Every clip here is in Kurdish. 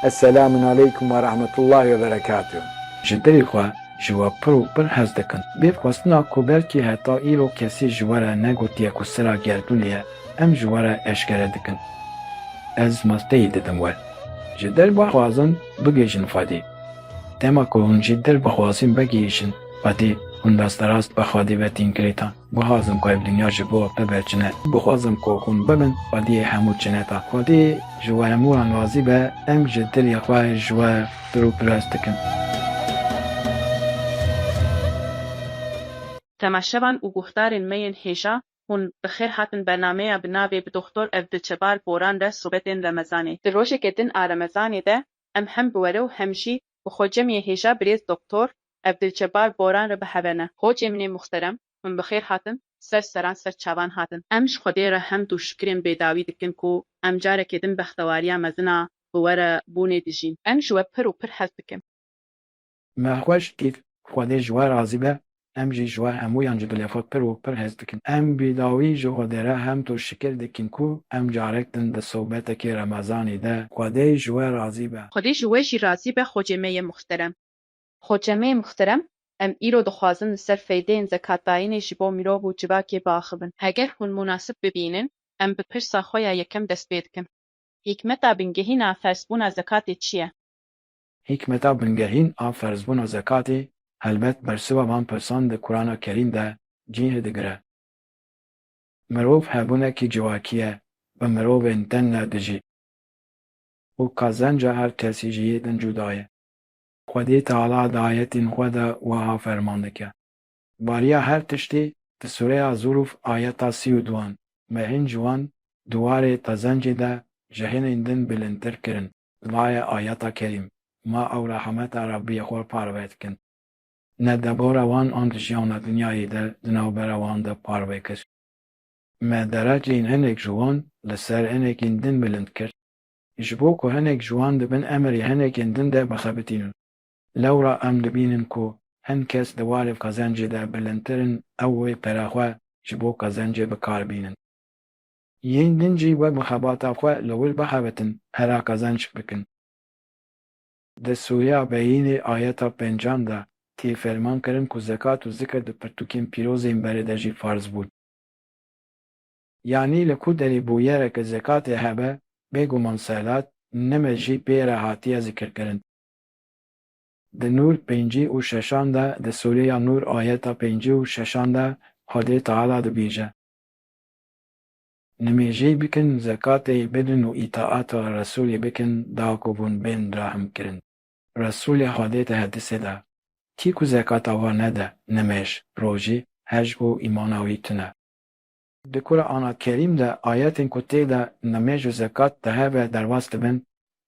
Eselamun aleykum ve rahmetullahi ve berekatuh. Ji dilê xwe ji we pir û pir hez dikim. Bê xwestina ku belkî heta îro kesî ji we re negotiye ku sira gerdûnê ye, em ji we re eşkere dikin. Ez malteyî didim we. Ji dil bixwazin bigihîjin Xwedê. Dema ku hûn ji dil bixwazin vegihîjin Xwedê, hûn rasterast bi Xwedê ve tîn girêdan. Guhazim ku ev dinya ji bo bibe çine. Guhazim ku hûn bibin xwediyê hemû çineta. Xwedî ji we hemû wan razî be, em ji dilê xwe ji we pir û pirs dikin. Temaşevan û guhdarên me yên hêja, hûn bi xêr hatin bernameya bi navê Bi Doxtor Evdilçebar Boran re sobetên Remezanê. Di rojeke din a Remezanê de em hem bi were û hem jî bi xwe cemiyê hêja birêz Doktor Evdilcebar Boran re biheve ne. Hocê min ê muxterem, hûn bi xêr hatin, ser seran ser çavan hatin. Em ji Xwedê re hemd û şikrên bêdawî dikin ku em carekê din bextewariya mezin a bi were bûnê dijîn. Em ji we pir û pir hez dikin. Mexweş dît Xwedê ji we razî be, em jî ji we hemûyan ji dilê xwe pir û pir hez dikin. Em bi dawî ji Xwedê re hemd û şikir dikin ku em carek din di sobetekê Remezanî de Xwedê ji we razî be. Xwedê ji we jî razî be Xocê me yê muxterem. Xocê me yê muxterem, em îro dixwazin li ser feydeyên zekatdayînê ji bo mirov û civakê biaxivin. Heger hûn munasib bibînin, em bi pirsa xwe ya yekem dest pê dikin. Hîkmeta bingehîna ferzbûna zekatê çi ye? Hîkmeta bingehîn a ferzbûna zekatê helbet bersiva van pirsan di Kurana Kerîm de cîh digire. Mirov hebûnekî civakî ye bi mirovên din re dijî û qezenca her kesî ji yê din cuda ye. Xwedê Teala di ayetên xwe de wiha ferman dike, Bariya her tiştî di Sûreya Zûrûf ayeta sî û duan me hîn ji wan di warê qezencê de ji hinên din bilindtir kirin. Vaye ayeta kerîm, ma ew rehemeta Rebbî xwe parve dikin. Ne debora wan an di jiyana dinyayê de di navbera wan de parve kir. Me dereceyên hinek ji wan li ser hinekên din bilind kir, ji bo ku hinek ji wan di bin emirê hinekên din de bixebitînin. Lewra em dibînin ku hin kes di warê qezencê de bilindtir in ew wê pere xwe ji bo qezencê bikar bînin. Yên din jî wek mixebata xwe li wir bixebitin hera qezenç bikin. Di sûreya Beyînê ayeta pencan de tê ferman kirin ku zekat û zikr di pirtûkên pîroz ên berê de jî farz bûn. Yanî li ku derê bûyere ke zekatê hebe, bêguman selat, nemez jî pê re hatiye zikirkirin. Di Nûr pêncî û şeşan de di sûreya Nûr ayeta pêncî û şeşan de Xwedê Teala dibêje. Nimêjey bikin, zekatê bidin û îtaata Resûlê bikin da ku hûn bên rahimkirin. Resûlê Xwedê di hedisê de, Kî ku zekata wan nede, nimêj, rojî, hej û îmana wî tun e. Di Kurana Kerîm de ayetên ku tê de nimêj û zekat di hev ve derbas dibin,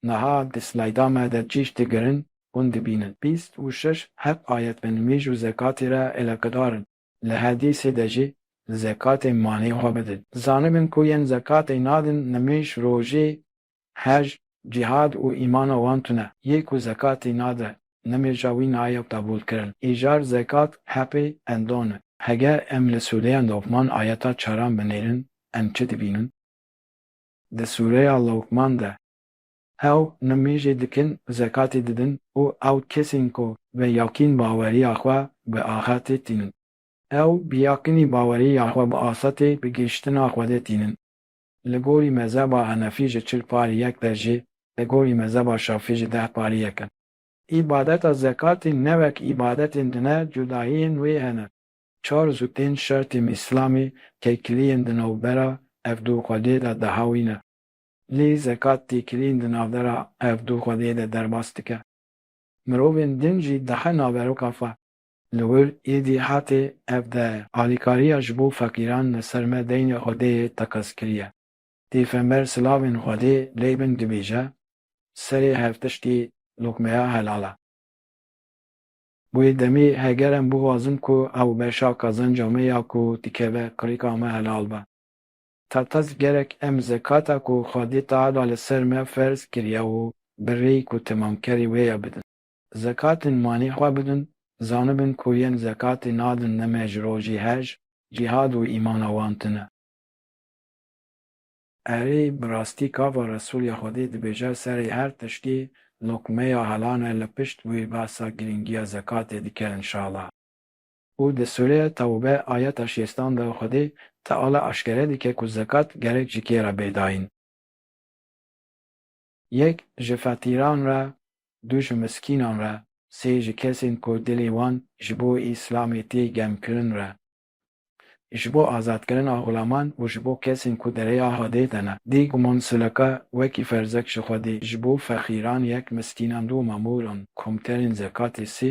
niha di slayda me de cîş digirin, hûn dibînin. Bîst û şeş heb ayet bi nimêj û zekatê re elaqedar in. Li hedîsê de jî li zekatê malê xwe bidin. Zanibin ku yên zekatê nadin nimêj, rojê, hej, cîhad û îmana wan tune. Yê ku zekatê nade nimêja wî naye qebûlkirin. Îcar zekat hepê endan e. Heger em li sûreya Luqman ayeta çaran binêrin em çi dibînin? Di sûreya Luqman de Ew nimêjê dikin, zekatê didin û ew kesên ku bi yaqîn baweriya xwe bi axirtê tînin. Ew bi yaqînî baweriya xwe bi asetê bi gihiştina Xwedê tînin. Li gorî mezheba Henefî ji çil parî yek der jî, li gorî mezheba Şafî ji deh parî yek in. Îbadeta zekatê ne wek îbadetên din e, cudahiyên wê hene. Çar zûtên şertên Îslamê têkiliyên di navbera ev du Xwedê de dihawîne. Lê zekat têkilîn di navbera ev du xwediyê de derbas dike. Mirovên din jî dihe naveroka xwe. Li wir êdî hatê ev de alîkariya ji bo feqîran li ser me deynê xwediyê teqez kiriye. Pêxember silavên xwedê lê bin dibêje, Serê her tiştî luqmeya helal e. Wê demê heger em bixwazin ku ew beşa qezenca me ya ku dikeve qirika me helal be. Tatas gerek em zekata ku Xwedê Teala li ser me ferz kiriye û bi rêyî ku temamkerî wê ye bidin. Zekatên malî xwe bidin, zanibin ku yên zekatê nadin ne me ji rojî hej, cîhad û îmana wan tune. Erê, bi rastî kava Resûl ya Xwedê dibêje serê her tiştî lokmeya helan e, li pişt wî behsa girîngiya zekatê dike inşala. Û di sûreya Tewbe ayeta şêstan de Xwedê Teala eşkere dike ku zekat gerek ji kê re bê dayîn. Yek ji feqîran re, du ji miskînan re, sê ji kesên ku dilê wan ji bo Îslamê tê gemkirin re, ji bo azatkirina xulaman û ji bo kesên ku di rêya Xwedê de ne. Dî guman sileka wekî ferzek ji Xwedê, ji bo feqîran yek, miskînan du, mamoran, komterên zekatê sê,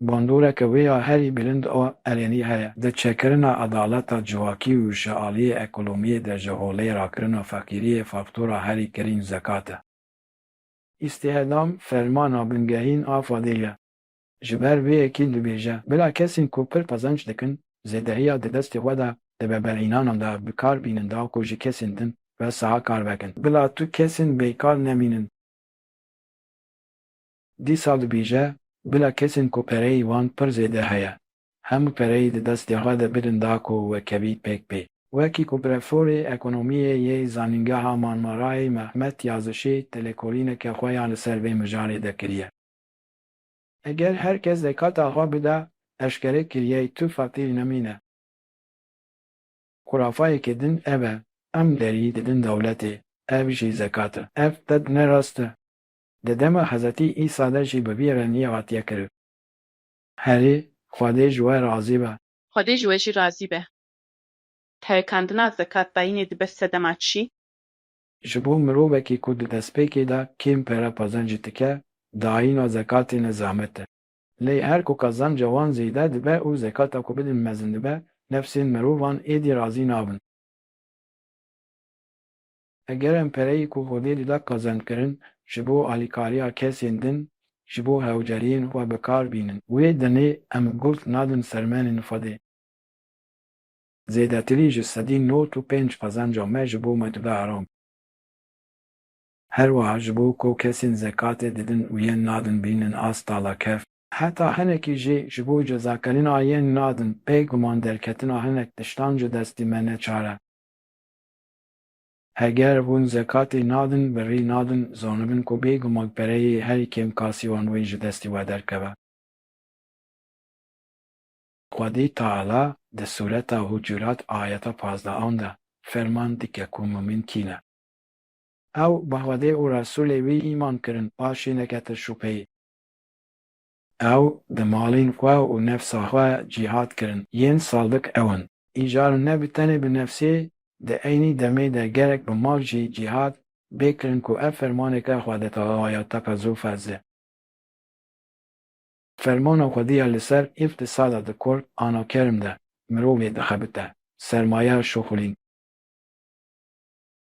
Bandoreke wê ya herî bilind a Erenî heye. Di çekirina edaleta civakî û şealiyê ekolemiyê de ji holê rakirina feqîriyê faktora herî kirîn zekat e. Îstîhdam fermana bingehîn a Fadil ye. Ji ber vê yekî dibêje, bila kesên ku pir qezenç dikin, zêdehiya di destê xwe de di veberînanan de bi kar bînin da ku ji kesên din ve saha kar vekin. Bila tu kesên bêkar nemînin. Dîsa dibêje, bila kesên ku pereyî wan pir zêde heye, hemû pereyî di destê xwe de bidin da ku we kevî pêk bê. Wekî ku brevforê ekonomiyê yê Zanîngeha Marmarayê Mehmet Yazişî têlêkolîneke xwe ya li ser vê mijarê de kiriye. Eger her kes zekata xwe bide, eşkere kiriye tu feqîr nemîne. Xurafayeke din ev e, em derî didin dewletê, ev jî zekat e. Ev ted ne rast e. Di dema Hezretî Îsa de jî bi vî re nîyê hatiye kirin. Herî, Xwedê ji we razî be. Xwedê ji we jî razî be. Tayekandina zekatdayînê dibe sedema çi? Ji bo mirovekî ku di destpêkê de kêm pere qazancî dike, dayîna zekatê ne zehmet e. Lê her ku qazanca wan zêde dibe û zekata ku bidin mezin dibe, nefsên mirovan êdî razî nabin. Eger em pereyê ku Xwedê li da qezenc kirin ji bo alîkariya kesên din ji bo hewceriyên xwe bi kar bînin, wê demê em gul nadin sermenên Xwedê. Zêdetirî ji sedî nod û pênc qezenca me ji bo me dide heram. Her wiha ji bo ku kesên zekatê didin û yên nadin bînin a stalakef, heta hinekî jî ji bo cezakirina yên nadin pê guman derketina hinek tiştan ji destî me neçar e. Heger hûn zekatê nadin, birrî nadin, zanibin ku bêguman pereyê herî kêm kasî wan wê ji destî we derkeve. Xwedî Teala di sûreta Hucurat ayeta pazdeh an de ferman dike ku mumîn kî ne. Ew bi Xwedê û Resûlê wî îman kirin, paşî nekete şûbheyê. Ew di malên xwe û nefsa xwe cîhat kirin. Yên saldik ew in. Îcar ne bi tenê bi nefsê, di eynî demê de gerek bi mal jî cîhat bê kirin ku ev fermaneke Xwedetala ya Taka Zulfez e. Fermana Xwedî ya li ser îftisada di kor ana kerm de mirovê dixebite sermaya şuxulîn.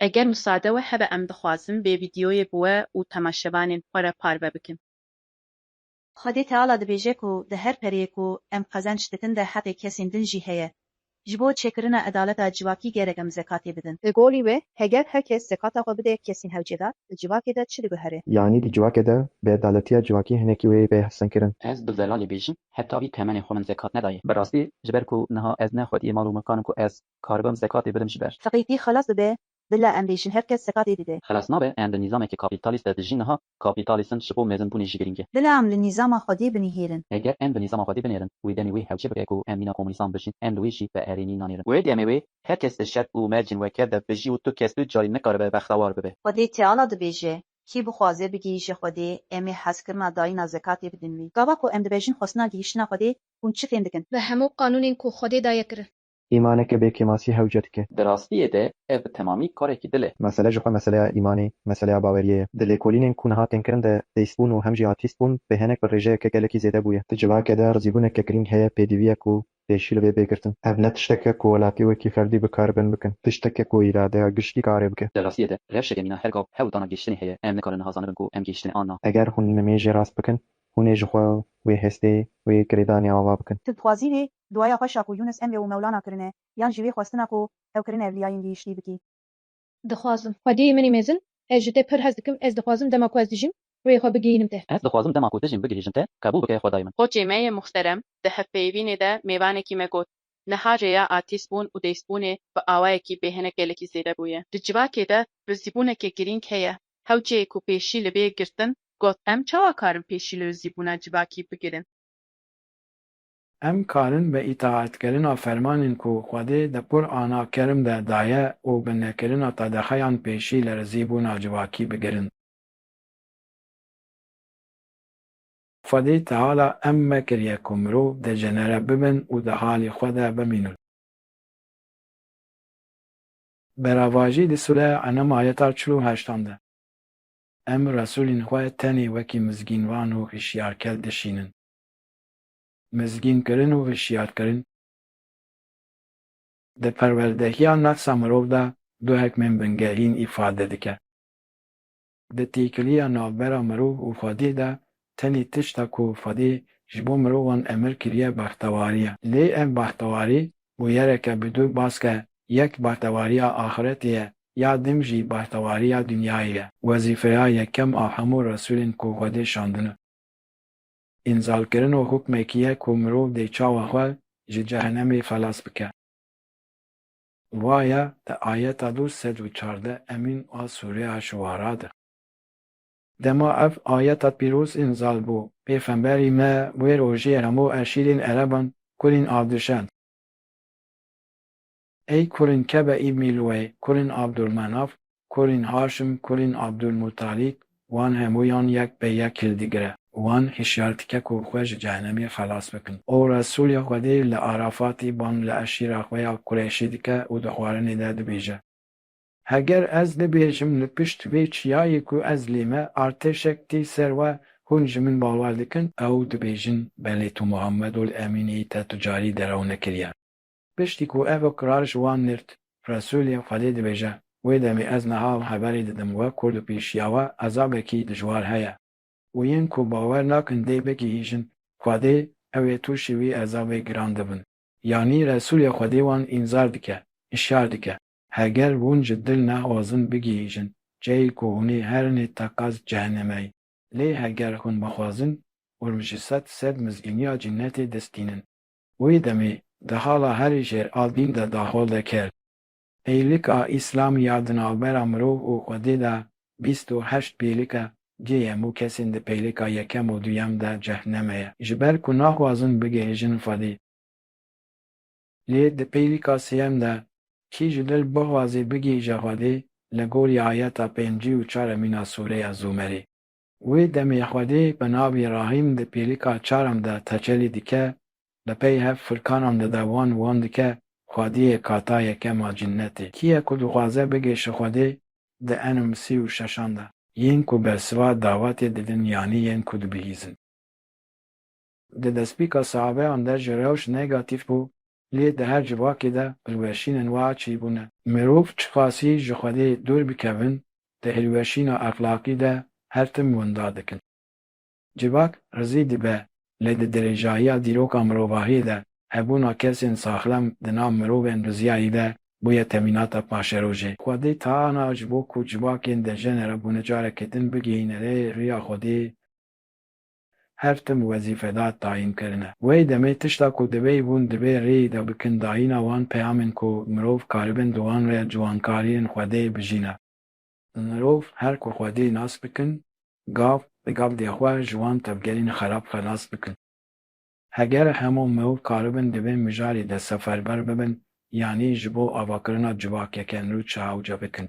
Eger misade we hebe em dixwazin vê vîdyoyê bi we û temaşevanên xwe re parve bikin. Xwedê Teala dibêje ku di her pereyê ku em qezenç dikin de heqê kesên din jî heye. Ji bo çêkirina edaleta civakî gerek em zekatê bidin. Di golî wê heger her kes zekata xwe bide kesên hewcêdar, di civakê de çi diguhere? Yanî di civakê de bêedaletiya civakî hinekî wê yê bê hevsengkirin. Ez bi zelalê bêjim, heta vî temenê xwe min zekat nedaye. Bi rastî ji ber ku niha ez ne xwediyê mal û milkan im ku ez Karibim sekatê bidim ji ber. Feqîrî xelas bibe bila em bêjin her kes sekatê dide. Xelas nabe em di nîzamekî kapîtalîst de dijîn niha kapîtalîsm ji bo mezinbûnê jî girîng e. Bila em li nîzama xwedî binihêrin. Eger em li nîzama xwedî binêrin û demê wê hewce bibe ku em mîna komûnîstan bijîn em li wê jî bi erênî nanêrin. Wê demê wê her kes di şert û mercên weke de bijî û tu kes tu carî nikaribe bextewar bibe. Xwedê Teala dibêje, Kî bixwaze bigihîje Xwedê em ê hezkirina dayîna zekatê bidin wî. Gava ku em dibejin xwestina gihîştina Xwedê hûn çi fêm dikin? Bi hemû qanûnên ku Xwedê daye kirin. îmaneke bê kêmasî hewce dike. Di rastiyê de ev bi temamî karekî dil e. Mesele ji xwe meseleya îmanê, meseleya baweriyê ye. Di lêkolînên ku niha tên kirin de theîstbûn û hem jî atîstbûn bê henek bi rêjeyeke gelekî zêde bûye. Di civakê de rizîbûneke girîng heye pêdivîyek û pêşî li vê bê girtin. Ev ne tiştek e ku welatî wekî ferdî bikaribin bikin. Tiştek e ku îradeya giştî karê bike. Di rastiyê de rewşeke mîna her gav hewl dana gihîştinê heye. Em nikarin niha zanibin ku em gihîştinê an na. Eger hûn nimêjê rast bikin, Hûn ê ji xwe wê hestê, wê kirêdanê ava bikin. Ti dixwazî vê duaya xwe Şaku Yûnûs Emre û Mewlana kirine yan jî vê xwestina ku ew kirine evliyayên gihîştî bikî? Dixwazim. Xwediyê min ê mezin, ez ji te pir hez dikim, ez dixwazim dema ku ez dijîm rûyê xwe bigihînim te. Ez dixwazim dema ku dijîm bigihîjim te, qebûl bike Xwedayê min. Koçê me yê muxterem di hevpeyivînê de mêvanekî me got, Niha rêya artîstbûn û dêstbûnê bi awayekî bê hinek gelekî zêde bûye. Di civakê de rizîbûneke girîng heye. Hewceyê ku pêşî li bê girtin got. Em çawa karin pêşî li rizîbûna civakî bigirin? Em karin bi îtaetkirina fermanên ku Xwedê di Qur'ana Kerm de daye û bi nekirina qedexeyan pêşî li rizîbûna civakî bigirin. Xwedî Teala emme kiriye ku mirov decenere bibin û di halî xwe de bimînin. Beravajî di sûre Enam ayeta çil û heştan de em Resûlên xwe tenê wekî mizgînvan û hişyarker dişînin. Mizgînkirin û hişyarkirin di perwerdehiya nefsa mirov de du hikmên bingerîn îfade dike. Di têkiliya navbera mirov û xwediyê de tenê tişta ku xwedê ji bo mirovan emir kiriye bextewarî ye. Lê ev bextewarî bûyereke bi dû baske yek bextewariya axiretê ye ya din jî bextewariya dinyayê ye. Wezîfeya yekem a hemû resûlên ku xwedê şandine înzalkirino hukmekî ye ku mirov dê çawa xwe ji cehenemê xelas bike. Waya di ayeta du sed û çardeh emîn a sûreya Şuara de. Dema ev ayeta pîroz înzal bû, pêxemberî me wê rojê hemû eşîrên ereban kurên a dişand. Ey kurên Kebe îbnî Lûey, kurên Abdûlmenaf, Kurên Haşim, kurên Abdulmuttalîb, wan hemûyan yek pê yek hildigire û wan hişyar dike ku xwe ji cehenemê xelas bikin. Û Resûlê Xwedê li Arafatê bang li eşîra xwe ya Kureyşî dike û di xwarinê de dibêje. Heger ez bibêjim li pişt vê çiyayê ku ez lê me artêşek tê ser we, hûn ji min bawer dikin? Ew dibêjin, Belê tu Muhammedul Emîn î te tu carî derew nekiriye. Piştî ku ev kirar ji wan nird, Resûlê Xwedê dibêje, Wê demê ez niha ew heberê didim wek ku li pêşiya we ezabekî dijwar heye û yên ku bawer nakin dê bigihîjin Xwedê ew ê tûşî wî ezabê giran dibin. Yanî Resûlê Xwedê wan înzar dike, hişyar dike, heger hûn ji dil nexwazin bigihîjin cihê ku hûnê herin ê teqez cehennemeyî, lê heger hûn bixwazin, hûn ji sed sed mizgîniya cennetê dest dînin. Wê demê di hala herî jêr a dîn de daxwaz dekir. Pêlik a Îslamî ya di navbera mirov û xwedê de bîst û heşt pêlik e, cê ye mû kesên di pêlika yekem û duyem de cehneme ye, ji ber ku naxwazin bigihêjin xwedê. Lê di pêlika sêyem de kî ji dil bixwazê bigihîje xwedê li gorî ayeta pêncî û çar e mîna sûreya Zûmerê. Wê demê Xwedê bi navê Rahîm di pêlika çaran de tecelî dike, li pey hev furkanan de de wan wan dike, Xwediyê kata yekem a cinnetê. Kî ye ku dixwaze bigêşe Xwedê di enim sî û şeşan de? Yên ku bersiva davetê didin yanî yên ku dibihîzin. Di destpêka saxabeyan de jî rewş negatîf bû, lê di her civakê de hilweşînên wiha çêbûne. Mirov çiqasî ji Xwedê dûr bikevin, di hilweşîna exlaqî de her tim winda dikin. Civak rizî dibe, lê di dirêjahiya dîroka mirovahiyê de hebûna kesên saxlem di nav mirovên riziyayî de bûye temînata paşerojê. Xwedê Taana ji bo ku civakên dejenera bûne careke din bigihîne rê riya Xwedê. Her tim wezîfedar tayîn kirine. Wey demê tişta ku divêy bûn divê rêyî de bikin dayîna wan peyamên ku mirov karibin di wan re ciwankariyên xwedê bijîne. Mirov her ku xwedê nas bikin gav bi gav dê xwe ji wan tevgerên xerab xelas bikin. Heger hemû mirov karibin di vê mijarê de seferber bibin yanî ji bo avakirina civakeke nû çehawce bikin.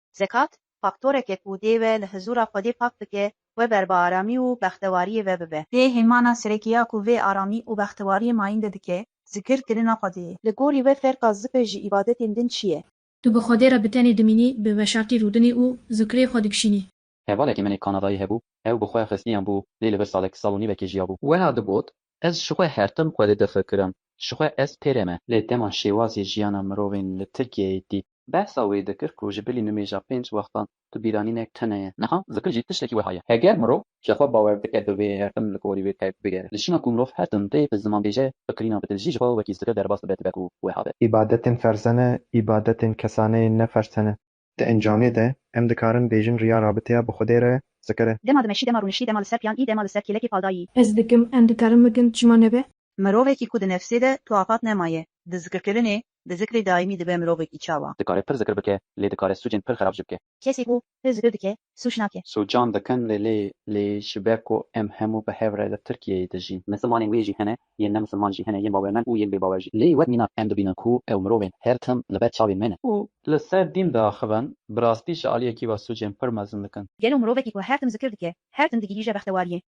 Zekat, faktoreke ku dê we li hizûra Xwedê pak bike, we ber bi aramî û bextewariyê ve bibe. Dê hêmana serekî ya ku vê aramî û bextewariyê mayînde dike, zikir kirina Xwedê ye. Li gorî we ferqa zikir ji îbadetên din çi ye? Tu bi Xwedê re bi tenê dimînî, bi veşartî rûdinî û zikirê xwe dikişînî. Hevalekî min ê Kanadayî hebû, ew bi xwe xistiyan bû lê li vir salek, sal û nîvekê jiyabû. Weha digot, Ez ji xwe her tim xwedê difikirim, ji xwe ez pêrê me. Lê dema şêwazê jiyana mirovên li Tirkiyeyê dît. Behsa wê dikir ku ji bilî nimêja pênc wextan tu bîranînek tune ye. Niha zikir jî tiştekî weha ye. Heger mirov ji xwe bawer dike di vê her tim li gorî wê tevk bigere. Li şîna ku mirov her tim tê bi ziman bêje, fikirîna bi dil jî ji xwe wekî zikir derbas dibe dibe ku weha be. Îbadetên ferze ne, îbadetên kesaneyê ne ferze ne. Di encamê de em dikarin bêjin riya rabiteya bi Xwedê re zikir e. Dema dimeşî, dema rûniştî, dema li ser piyan î, dema li ser kêlekê paldayî. Ez dikim, em dikarin bikin, çima nebe? Mirovekî ku di nefsê de tu afat nemaye, di zikirkirinê, di zikrê daîmî dibe mirovekî çawa? Dikare pir zikir bike, lê dikare sûcên pir xerab jî bike. Kesê ku pir zikir dike, sûc nake. Sûcan dikin lê lê lê ji ber ku em hemû bi hev re li Tirkiyeyê dijîn. Misilmanên wê jî hene, yên ne misilman jî hene, yên bawermend û yên bê bawer jî. Lê wek mînak em dibînin ku ew mirovên her tim li ber çavên me ne. Û li ser dîn diaxivin, bi rastî ji aliyekî ve sûcên pir mezin dikin. Gelo mirovekî ku her tim zikir dike, her tim digihîje bextewariyê?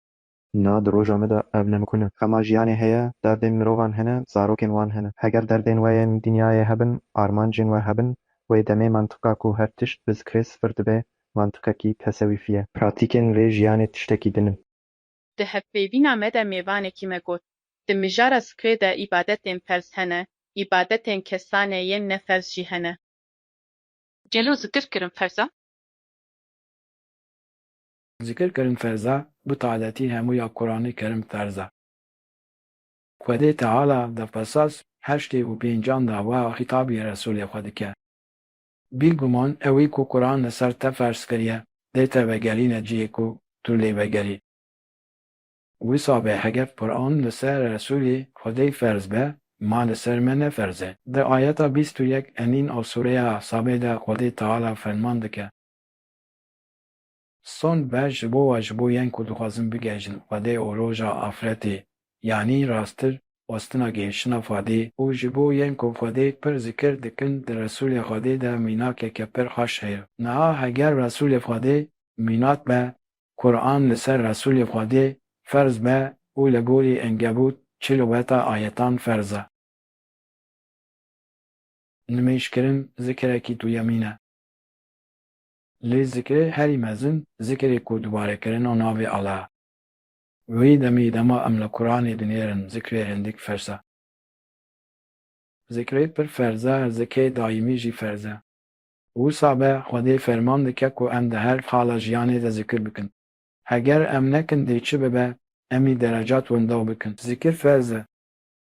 Na di roja me de ev ne mukun e. Xema jiyanê heye, derdên mirovan hene, zarokên wan hene. Heger derdên we yên dinyayê hebin, armancên we hebin, wê demê mantiqa ku her tişt bi zikrê sifir dibe, mantiqekî tesewîfî ye. Pratîkên vê jiyanê tiştekî din in. Di hevpeyvîna me de mêvanekî me got, Di mijara zikrê de îbadetên ferz hene, îbadetên kesane yên ne ferz jî hene. Gelo zikir kirin ferz e? Zikir kerim ferza bi taletî hemû ya Quranê kerim ferza. Xwedê Teala di qisas heştê û pêncan de wiha xîtabî Resûlê xwe dike, Bîguman ewî ku Quran li ser te ferz kiriye dê te vegerîne cihê ku tu lê vegerî. Wisa be heger Quran li ser Resûlê Xwedê ferz be ma li ser me ne ferz e. Di ayeta bîst û yek enîn a sûreya Sabê de Xwedê Teala ferman dike. Son ber ji bo wa ji bo yên ku dixwazin bigehjin Fadê û roja afretê yanî rastir westina gihiştina Fadê û ji bo yên ku Fadê pir zikir dikin di Resûlê Xwedê de mînakeke pir xweş heye. Niha heger Resûlê Xwedê mînak be, Quran li ser Resûlê Xwedê ferz be û li gorî Enkebût çil û heta ayetan ferz e. Nimêjkirin zikirekî duyemîn e. Lê zikirê herî mezin zikirê ku dubare kirin û navê Ala ye. Wî demî dema em li Quranê dinêrin zikirê hindik fers e. Zikirê pir ferz e, zikê daîmî jî ferz e. Wisa be Xwedê ferman dike ku em di her xala jiyanê de zikir bikin. Heger em nekin dê çi bibe, emî derecat windaw bikin. Zikir ferz e.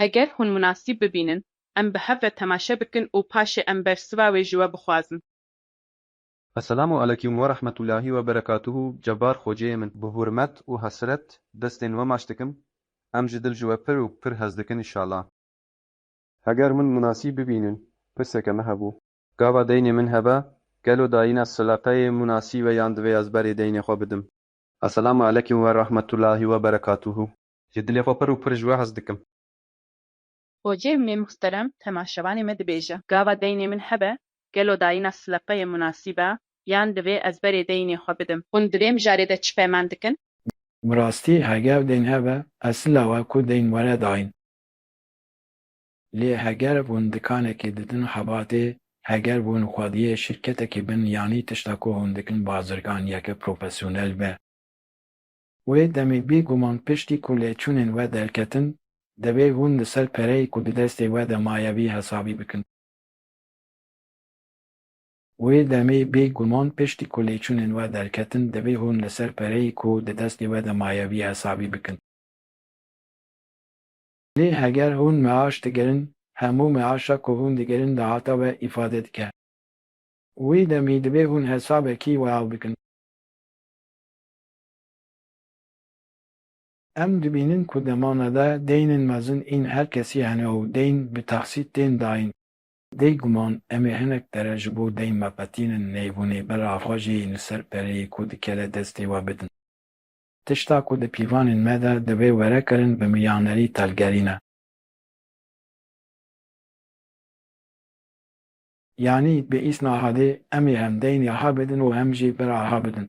Heger hûn munasîb bibînin, em bi hev ve temaşe bikin û paşê em bersiva wê ji we bixwazin. Esselamu aleykûm werahmetûllahî weberekatûhû Cebar xweciyê min. Bi hurmet û hesret destên we maç dikim, em ji dil ji we pir û pir hez dikin inşallah. Heger hûn munasîb bibînin, pirseke me hebû. Gava deynê min hebe, gelo dayîna sileqeyê munasîb e yan divê ez berê deynê xwe bidim? Esselamu aleykûm werahmetûllahî weberekatûhû Ji dilê xwe pir û pir ji we hez dikim. Xwecih mê muhterem temaşevanê me dibêje. Gava deynê min hebe? Gelo dayîna sileqeyê munasîb e? Yan divê ez berê deynê xwe bidim? Hûn di vê mijarê de çi peyman dikin? Bi rastî heger deyn hebe, esila we ku deyn were dayîn. Lê heger hûn dikanekê didin xebatê, heger hûn xwediyê şirketekî bin yanî tişta ku hûn dikin bazirganiyeke profesyonel be, Wê demê bê guman piştî ku lêçûnên we derketin, divê hûn li ser pereyê ku di destê we de maye vî hesabî bikin. Wê demê bê guman piştî ku lêçûnên we derketin, divê hûn li ser pereyê ku di destê we de maye vî hesabî bikin. Lê heger hûn meaş digirin, hemû meaşa ku hûn digirin dahata we îfade dike. Wê demê divê hûn hesabekî wiha bikin. Em dibînin ku demane de deynên mezin ên her kesî hene û deyn bi taksît tên dayîn. Bê guman em ê hinek pere ji bo deyn veqetînin neyvûnê ber axwajiyên li ser pereyê ku dikeve destê we bidin. Tişta ku di pîvanên me de divê were kirin bi miyanerî telgerî ne. Yanî bi îsnaxadê em ê hem deyn axa bidin û hem jî ber axa bidin.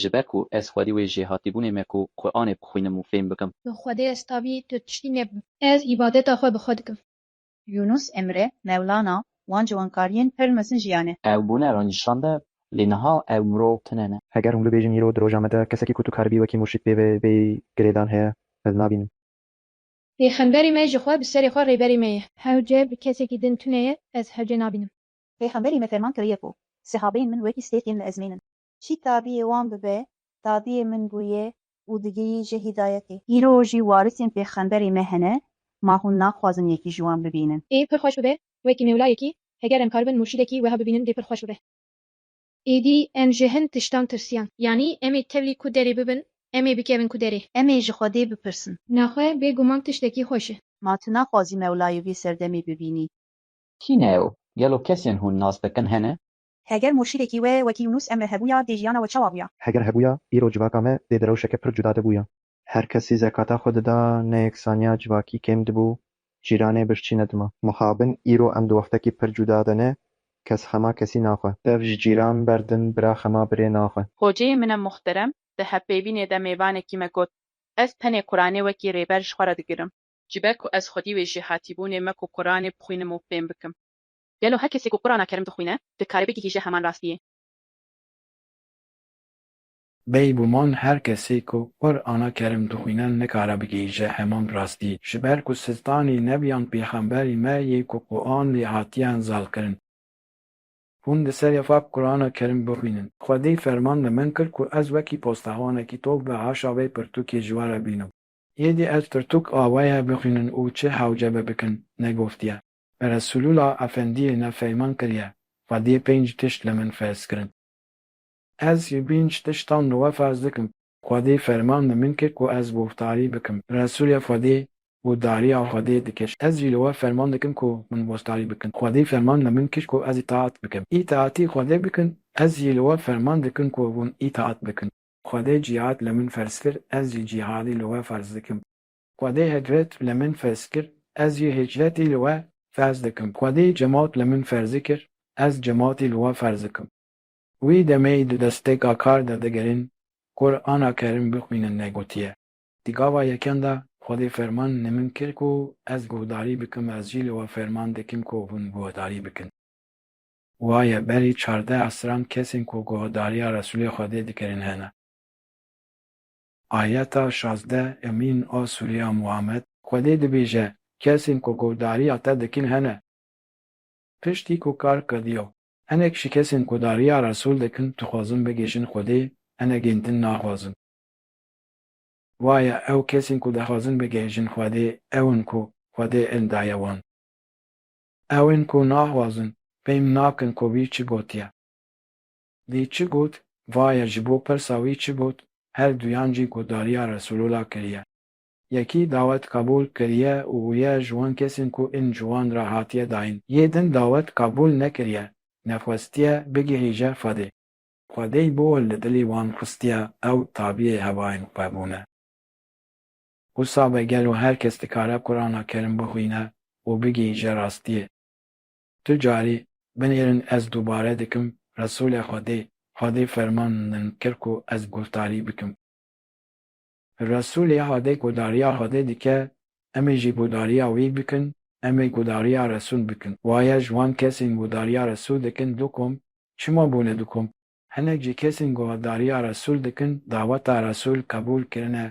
Ji ber ku ez xwedî wê jêhatîbûnê me ku Quranê bixwînim û fêm bikim. Tu Xwedê ez tabî tu tiştî nebû. Ez îbadeta xwe bi xwe dikim. Yûnûs Emre, Mewlana, Wan ji wankariyên pir mezin jiyan e. Ew bûne ra nîşande, lê niha ew mirov tune ne. Heger hûn bibêjin îro di roja me de kesekî ku tu karibî wekî murşîd pê ve bêyî girêdan heye, ez nabînim. Pêxemberê me jixwe bi serê xwe rêberê me ye. Hewce bi kesekî din tune ye, ez hewce nabînim. Pêxemberê me ferman kiriye ku, Sehabeyên min wekî stêrkên li ezmên in. Çî tabiyê wan bibe, tabiyê min bû ye û digihî ji hîdayetê. Îro jî warisên pêxemberê me hene, ma hûn naxwazin yekî ji wan bibînin. Ê pir xweş bibe, wekî mewlayekî, heger em kar bin murşîdekî weha bibînin dê pir xweş bibe. Êdî em ji hin tiştan tirsiyan. Yanî em ê tevlî ku derê bibin, em ê bikevin ku derê. Em ê ji Xwedê bipirsin. Naxwe bê guman tiştekî xweş e. Ma tu naxwazî mewlayê wî serdemê bibînî? Kî ne ew? Gelo kesên hûn nas dikin hene? Heger murşîdekî we wekî Yûnûs Emre hebûya dê jiyana we çawa bûya? Heger hebûya îro civaka me dê di rewşeke pir cuda de bûya. Her kesî zekata xwe dida, neyeksaniya civakî kêm dibû, cîranê birçî nedima. Mixabin îro em di wextekî pir cuda de ne, kes xema kesî naxwe. Dev ji cîran berdin, bira xema birê naxwe. Hoceyê min e muhterem di hevpêvînê de mêvanekî me got, Ez tenê Quranê wekî rêber ji xwe re digirim. Ji ber ku ez xwedî wê jêhatîbûnê me ku Quranê bixwînim û fêm bikim. Gelo her kesê ku Qurana Kerim dixwîne dikare bigihîje heman rastiyê? Bêy guman her kesê ku Qurana Kerim dixwîne nikare bigihîje heman rastiyê. Ji ber ku sitanî nebiyan pêxemberî me yê ku Quran lê hatiyan zalkirin. Hûn di serê xwe Qurana Kerim bixwînin. Xwedê ferman li min kir ku ez wekî postexwanekî tok bi haşa vê pirtûkê ji we re bînim. Êdî ez pirtûk awayê bixwînin û çi hewce be bikin, negotiye. Beresulula Efendiyê ne feyman kiriye, xwediyê pênc tişt li min ferz kirin. Ez ji pênc tiştan li we ferz dikim, xwedê ferman li min kir ku ez boftarî bikim, Resulê Xwedê û dariya Xwedê dikir, ez jî li we ferman dikim ku min bostarî bikin, xwedê ferman li min kir ku ez îtaat bikim, îtaatî Xwedê bikin, ez jî li we ferman dikim ku hûn îtaat bikin, Xwedê cîhad li min ferz kir, ez jî cîhadî li we ferz dikim. Xwedê Hegret li min ferz kir, ez jî hicretî li we ferz dikim. Xwedê Cemat li min ferz kir, ez cematî li we ferz dikim. Wî demê di destpêka kar de digirin, Qur'ana Kerim bixwînin negotiye. Di gava yekem de Xwedê ferman li min kir ku ez guhdarî bikim, ez jî li we ferman dikim ku hûn guhdarî bikin. Waye berî çardeh esran kesên ku guhdarîya Resulê Xwedê dikirin hene. Ayeta şazdeh, Emîn a Sûriya Muhammed, Xwedê dibêje, kesên ku guhdarîya te dikin hene. Piştî ku kar kediya, hinek ji kesên ku darîya Resûl dikin dixwazin bigihîjin Xwedê, hinek ên din naxwazin. Waya ew kesên ku dixwazin bigihîjin Xwedê ew in ku Xwedê ilm daye wan. Ew ên ku naxwazin, fêm nakin ku wî çi gotiye. Lê çi got? Vaye ji bo pirsa wî çi got? Her duyan jî gotdariya Resûlûla kiriye. Yekî dawet qebûl kiriye û ye ji wan kesên ku in ji wan re hatiye dayîn. Yê din dawet qebûl nekiriye, nexwestiye bigihîje Xwedê. Xwedê bo li dilê wan xistiye, ew tabiyê hevayên xwe bûne. Wisa be gelo her kes dikare Qur'ana Kerim bixwîne û bigihîje rastiyê? Tu carî binêrin ez dubare dikim Resûlê Xwedê, Xwedê ferman min kir ku ez guhdarî bikim. Resûlê Xwedê guhdarîya Xwedê dike, em ê jî guhdarîya wî bikin, em ê guhdarîya Resûl bikin. Waye ji wan kesên guhdarîya Resûl dikin du kom, çima bûne du kom? Hinek jî kesên ku hevdariya Resûl dikin, daweta Resûl qebûl kirine,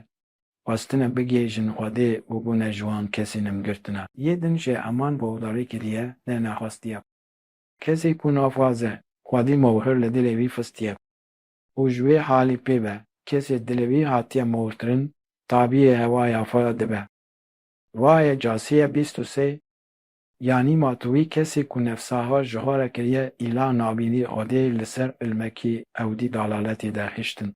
xwestine bigihêjin Xwedê û bûne ji wan kesên em girtina. Yê din jî eman gohdarî kiriye lê nexwestiye. Kesê ku naxwaze Xwedî mohir li dilê wî fistiye û ji wê halî pê be, kesê dilê wî hatiye mohirkirin tabîyê hewaya xwe dibe. Wayê Casîye bîst û sê Yanî ma tu wî kesê ku nefsaha jihareke ye îlah nabînî odê li ser ilmekî ewdî dalaletê derhiştin.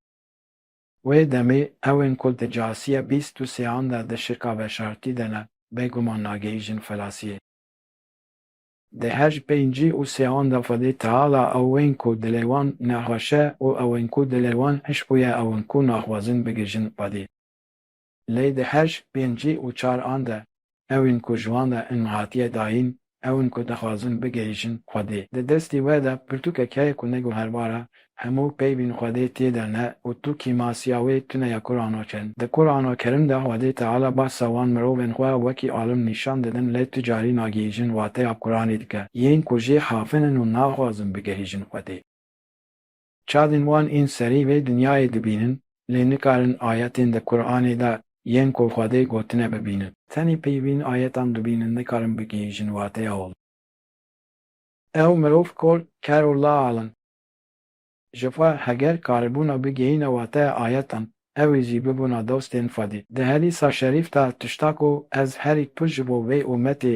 Wê demê ewên ku di casiya bîst û sêan de di şika veşartî de ne bêguman nagehîjin felasiyê. Di her ji pêncî û sêan de xwedê teala ewên ku dilê wan nexweş e û ewên ku dilê wan hişk bûye ewin ku naxwazin bigihîjin xwedê. Lê di heşt, pêncî û çar an de ew in ku ji wan de in hatiye dayîn, ew in ku dixwazin bigihîjin Xwedê. Di destî we de pirtûkek heye ku neguherbar e, hemû peyvîn Xwedê tê de ne û tu kîmasiya wê tune ya Kuranokerin. Di Kuranokerim de Xwedê Teala bahsa wan mirovên xwe wekî alim nîşan didin lê tu carî nagihîjin wateya Kuranê dike, yên ku jê hafin in û naxwazin bigihîjin Xwedê. Çavên wan ên serî vê dinyayê dibînin, lê nikarin ayetên di Quranê de yên ku Xwedê gotine bibînin. Tenê peyvîn ayetan dibînin, nikarin bigihîjin wateya wan. Ew mirov kol, ker û lal in. Ji xwe heger karibûna bigihîne wateya ayetan, ew ê jî bibûna dostên Xwedê. Di hedîsa şerîf de tişta ku ez herî pir ji bo vê umetê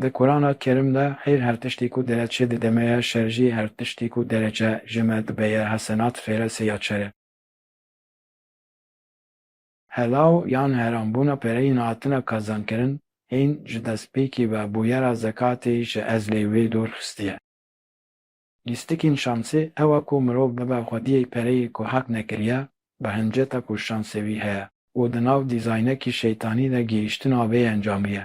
Di Kurana Kerîm de heyr her tiştî ku dereçê dideme ye, şer jî her tiştî ku dereçe jime dibe ye, hesenat fêre sê ya çere. Helaw yan heranbûna pereyên hatine kazankirin hîn ji destpêkî ve bûyera zekatê ji ezlê wê dûr xistiye. Lîstikên şansê ew e ku mirov bibe xwediyê pereyê ku hak nekiriye bi hinceta ku şansê wî heye û di nav dîzaynekî şeytanî de gihîştina vê encamî ye.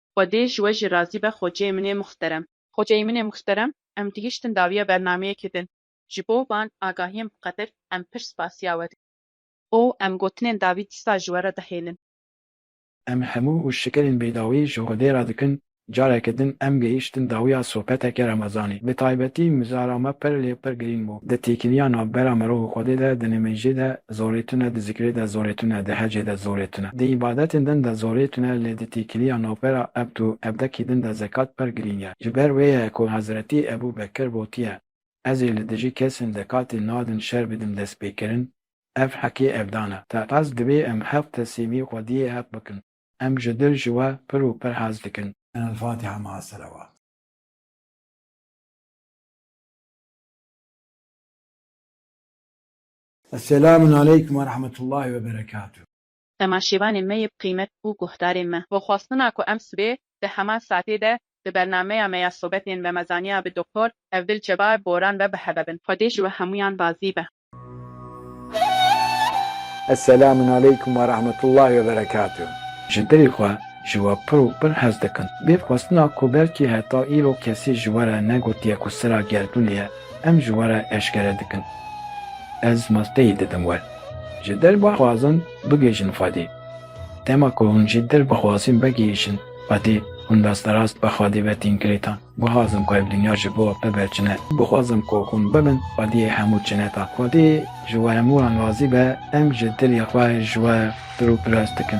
Xwedê ji we jî razî be xoceyê min ê muxterem. Xoceyê min ê muxterem em gihiştin dawiya bernameyekê din. Ji bo van agahiyên bi qedir em pir spasiya we dikin. Û em gotinên dawî dîsa ji we re dihêlin. Em hemû û şikerên bêdawî ji Xwedê re dikin. Careke din em gihiştin dawiya sohbeteke remezanê. Bi taybetî mizara me pir lê pir girîng bû. Di têkiliya navbera mirov û Xwedê de di nimêjê de Zorê tune di zikrê de zorê tune, di hecê de zorê tune. Di îbadetên din de zorê tune lê di têkiliya navbera ebd û ebdekî din de zekat per girîng e. Ji ber wê ye ku Hezretî Ebû Bekir gotiye, Ez ê li dijî kesên zekatê nadin şer bidim destpêkirin, ev hekê ebdan e. Te ez divê em heft tesîmî xwediyê heft bikin. Em ji dil ji we pir û pir hez dikin. Elfatiha maa selewat. Eselamun aleykum ve rahmetullahi ve berekatuh. Temaşevanê me yê bi qîmet û guhdarê me. Bi xwestina ku em sibê di heman saetê de di bernameya me ya sobetên remezaniya bi Doktor Evdil Çeba Boran ve bi heve bin. Xwedê ji we hemûyan razî be. Eselamun aleykum ve rahmetullahi ve berekatuh. Ji dilê xwe ji we pir û pir hez dikim. Bi xwestina ku belkî heta îro kesî ji we re negotiye ku sira gerdûnê ye, Em ji we re eşkere dikin. Ez masteyê didim we. Ji dil bixwazin bigihîjin Xwedê. Dema ku hûn ji dil bixwazin bigihîjin Xwedê, hûn rasterast bi Xwedê ve tîn girêtan. Bixwazim ku ev dinya ji bo bibe cine. Bixwazim ku hûn bibin Xwediyê hemû cinetan. Xwedê ji we hemû wan razî be, em ji dilê xwe ji we pir û pirs dikin.